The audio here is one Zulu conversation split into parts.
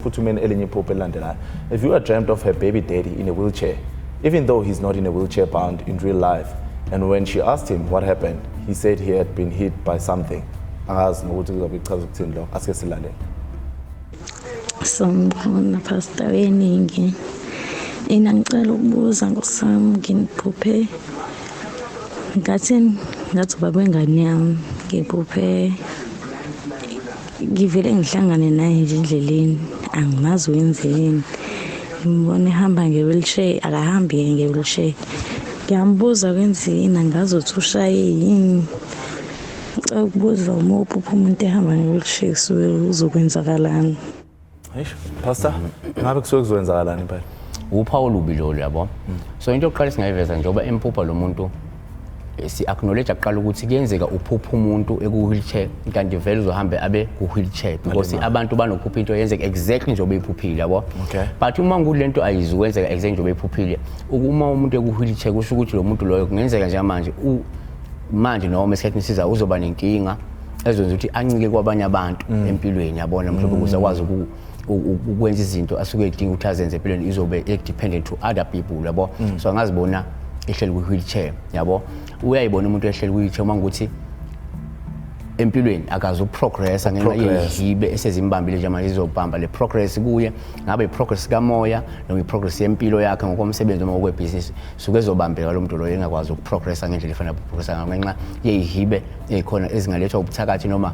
phuthumeni elinye iphupho elilandelayo if you are dreamt of her baby daddy in a wheelchair even though he's not in a wheelchair bound in real life and when she asked him what happened he said he had been hit by something angazi nokuthi kuzobe kuchaza ukuthini lokho asike silalele sambona phasta weningi ina ngicela ukubuza ngosam nginiphuphe ngathi ngathi ubaba wengane yami ngiphuphe ngivele ngihlangane naye nje endleleni angimazi wenzeni ngimbona ehamba nge-wheelchair akahambi yena nge-wheelchair ngiyambuza kwenzeni angazi ukuthi ushaye yini ngicela ukubuza uma uphupha umuntu ehamba nge-wheelchair kusuke uzokwenzakalani Eish, pastor, ngabe kusuke kuzokwenzakalani impela? Upha olubi lo yabo. So into yokuqala singayiveza njengoba empupha lo muntu eh, si acknowledge aqala ukuthi kuyenzeka uphupha umuntu eku wheelchair kanti vele uzohambe abe ku wheelchair because abantu banokuphupha into yenzeka exactly njengoba eyiphuphile yabo. Okay. But uma ngulento ayizi kwenzeka exactly njengoba eyiphuphile. Ukuma umuntu eku wheelchair kusho ukuthi lo muntu loyo kungenzeka njengamanje u manje noma esikhathini esiza uzoba nenkinga ezokwenza ukuthi ancike kwabanye abantu mm. empilweni yabona mhlawumbe ukuze akwazi uku ukwenza izinto asuke edinga ukuthi azenze empilweni izobe dependent to other people yabo mm. so angazibona ehleli kwi wheelchair yabo uyayibona umuntu ehleli kwi wheelchair uma ukuthi empilweni akazi ukuprogressa ngenxa yezihibe esezimbambile nje manje izobhamba le progress kuye ngabe i-progress kamoya noma i-progress yempilo yakhe ngokomsebenzi noma okwebhizinisi suke ezobambeka lo muntu loyo engakwazi ukuprogressa ngendlela efanele ukuprogressa ngayo ngenxa yeyihibe ezikhona ezingalethwa ubuthakathi noma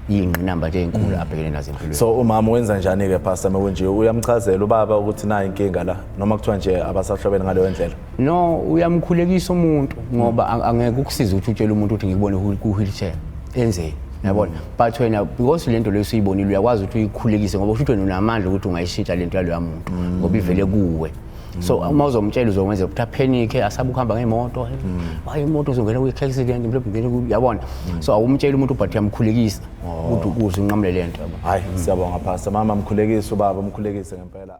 iyingqinamba nje ezinkulu mm. abhekene nazo empilweni so umama wenza njani ke pastor mekunje uyamchazela ubaba ukuthi nayi inkinga la noma kuthiwa nje abasahlobene ngaleyo ndlela no uyamkhulekisa umuntu ngoba mm. angeke ukusiza ukuthi utshele umuntu ukuthi ngikubone ku wheelchair enzeni yabona mm. but wena because lento leyo usuyibonile uyakwazi ukuthi uyikhulekise ngoba usho ukuthi wena unamandla ukuthi ungayishintsha lento yaloya muntu ngoba ivele kuwe so mm. uma uzomtshela uzokwenza ukuthi aphenike asabe ukuhamba ngemoto mm. hayi imoto uzongena kwi-accident mhlawumbe yabona mm. so awumtsheli umuntu ubhathi yamkhulekisa oh. ukuthi ukuze unqamule le nto hayi siyabonga phasa mama mkhulekise ubaba mkhulekise ngempela